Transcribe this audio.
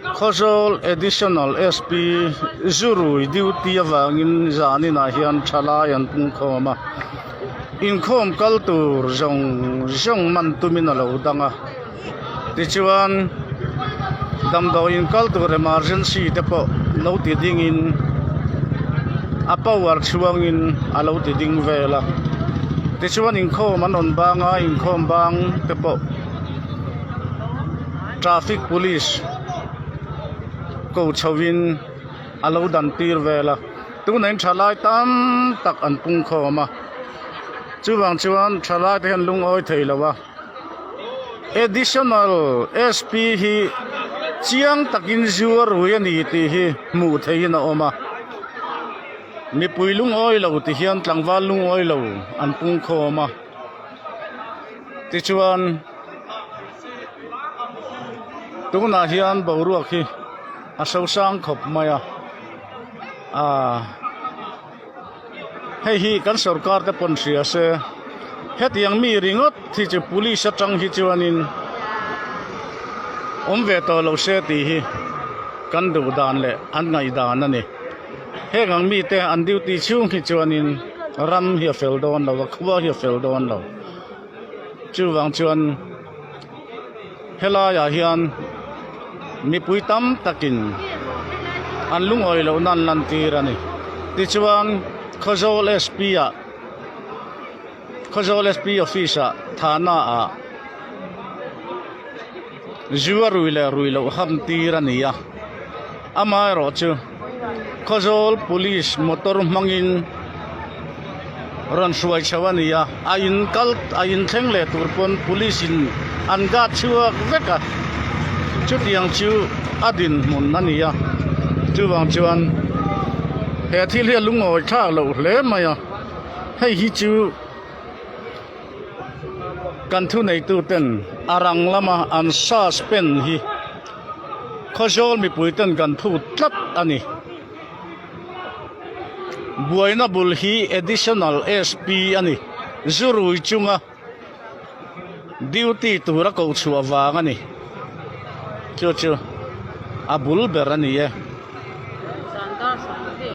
Khawzawl Additional SP Zurui duty avangin zaninah hian thalai an pungkhawm a, inkhawm kal tur zawng zawng man tumin a lo dang a. Tichuan, damdawi inkal tur emergency te pawh lo ti dingin a power chhuangin a lo ti ding vel a. Tichuan, inkhawm an rawn bang a, inkhawm bang te pawh. Traffic Police ko chho in a lo dan tir vel a, tuna in tha lai tam tak an pung khawm a, chuvang chuan tha lai te hian lungawi thei lo a Additional SP hi chiang takin zu a rui a ni tih hi hmuh theih in a awm a, mipui lungawi lo ti hian tlangval lungawi lo an pung khawm a. Tichuan, tunah hian boruak hi a hro sang khawp mai a, aah hei hi kan sorkar te pawn hria se hetiang mi ringawt hi chu police atang hi chuanin awm ve tawh lo se tih hi kan duh dan leh an ngaihdan a ni. Heng ang mite an duty chhung hi chuanin ram hi a fel dawn lo a, khua hi a fel dawn lo. Chuvang chuan helaiah hian mipui tam takin an lungawi lohna an lantir a ni. Tichuan Khawzawl SP-ah. Khawzawl SP office ah thana ah zu a rui leh rui loh ham tir a ni a, amaherawh chu Khawzawl police motor hmangin rawn hruai chho a ni a, a in kal a in thleng leh tur pawn police in an guard chhuak vek a, chutiang chu a dinhmun a ni a, chuvang chuan he thil hi a lungawithlak loh hle mai a. hei hi chu kan thu nei tu ten a rang lama an suspend hi khawzawl mipui ten kan thu tlat a ni buaina bul hi additional SP a ni zu rui chunga duty tura ko chhuah vang a ni chu chu a bul ber a ni e